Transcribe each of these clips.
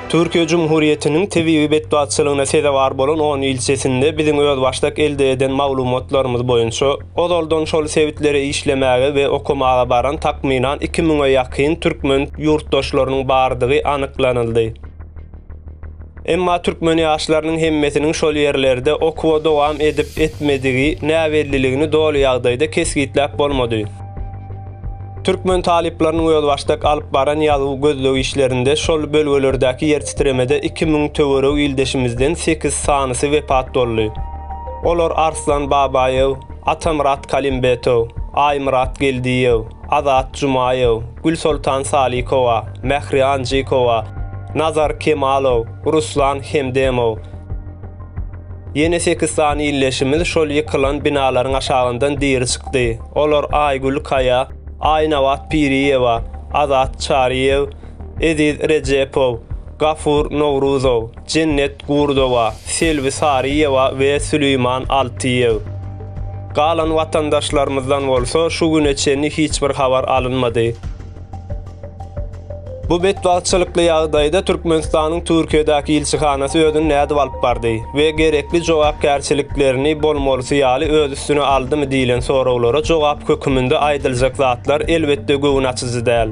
Türkiýe Jumhuriýetiniň tebigy betbagtçylygyna sezewar bolan on ýyl içesinde biziň özbaşdak elde eden maglumatlarymyz boýunça, ozaldan şol sebitlere işlemäge we okamaga baran takmynan iki müňe ýakyn türkmen ýurtdaşlarynyň bardygy anyklanyldy. Emma türkmen ýaşlarynyň hemmesiniň şol ýerlerde okuwa dowam edip-etmedigi näbelliligini doly ýagdaýda kesgitläp bolmady. Türkmen talyplarynyň özbaşdak alyp baran ýazuw gözleg işlerinde şol bölgelerdäki ýertitremede iki müň töweregi ildeşimizden sekiz sanysy wepat boldy. Olar Arslan Babaýew, Atamyrat Kalimbetow, Aýmyrat Geldiýew, Azat Jumaýew, Gülsoltan Salikowa, Mähri Anjykowa, Nazar Kemalow, Ruslan Hemdemow. Ýene sekiz sany ildeşimiz şol ýykylan binalaryň aşagyndan diri çykdy. Olar Aýgül Kaýa, Aýnabat Piriýewa, Azat Çaryýew, Eziz Rejepow, Gafur Nowruzow, Jennet Gurdowa, Selbi Saryýewa we Süleýman Altyýew. Galan watandaşlarymyzdan bolsa şu güne çenli hiç bir habar alynmady. Bu betbagtçylykly ýagdaýda Türkmenistanyň Türkiýedäki ilçihanasy özüni nädip alyp bardy we gerekli jogapkärçiliklerini bolmalysy ýaly öz üstüne aldymy diýlen soraglara jogap höküminde aýdyljak zatlar elbetde göwün açyjy däl.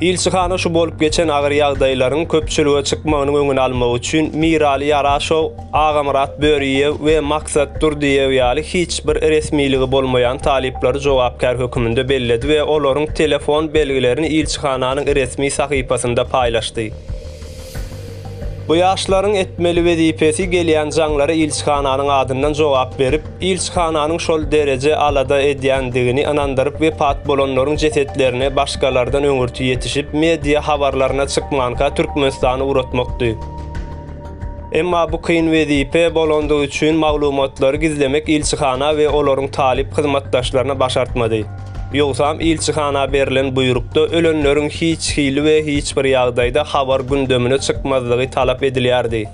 Ilçihana şu bolup geçen agyr ýagdaýlaryň köpçülige çykmagynyň öňüni almak üçin Mirali Ýaraşow, Agamyrat Böriýew we Maksat Durdyýew ýaly hiç bir resmiligi bolmaýan talyplary jogapkär höküminde belledi we olaryň telefon belgilerini ilçihananyň resmi sahypasynda paýlaşdy. Bu ýaşlaryň etmeli wezipesi gelýän jaňlara ilçihananyň adyndan jogap berip, ilçihananyň şol dereje alada edýändigini ynandyryp wepat bolanlaryň jesetlerini başgalardan öňürti ýetişip media habarlaryna çykmanka Türkmenistana ugratmakdy. Emma bu kyn wezipe bolandygy üçin maglumatlary gizlemek ilçihana we olaryň talyp hyzmatdaşlaryna başartmady. Ýogsam ilçihana berlen buýrukda ölenleriň hiç hili we hiç bir ýagdaýda habar gündemine çykmazlygy talap edilýärdi.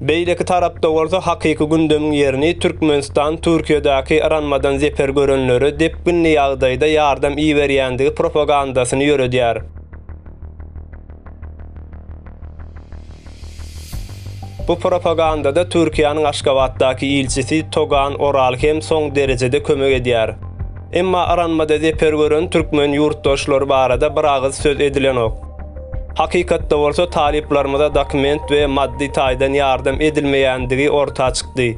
Beýleki tarapda bolsa hakyky gündemiň ýerini Türkmenistan Türkiýedäki yranmadan zeper görenlere depginli ýagdaýda ýardam iberýändigi propagandasyny ýöredýär. Bu propagandada Türkiýäniň Aşgabatdaky ilçisi Togan Oral hem soň derejede kömek edýär. Emma aranmada zeper gören türkmen ýurtdaşlary barada bir agyz söz edilenok. Hakykatda bolsa talyplarymyza dokument we maddy taýdan ýardam edilmeýändigi orta çykdy.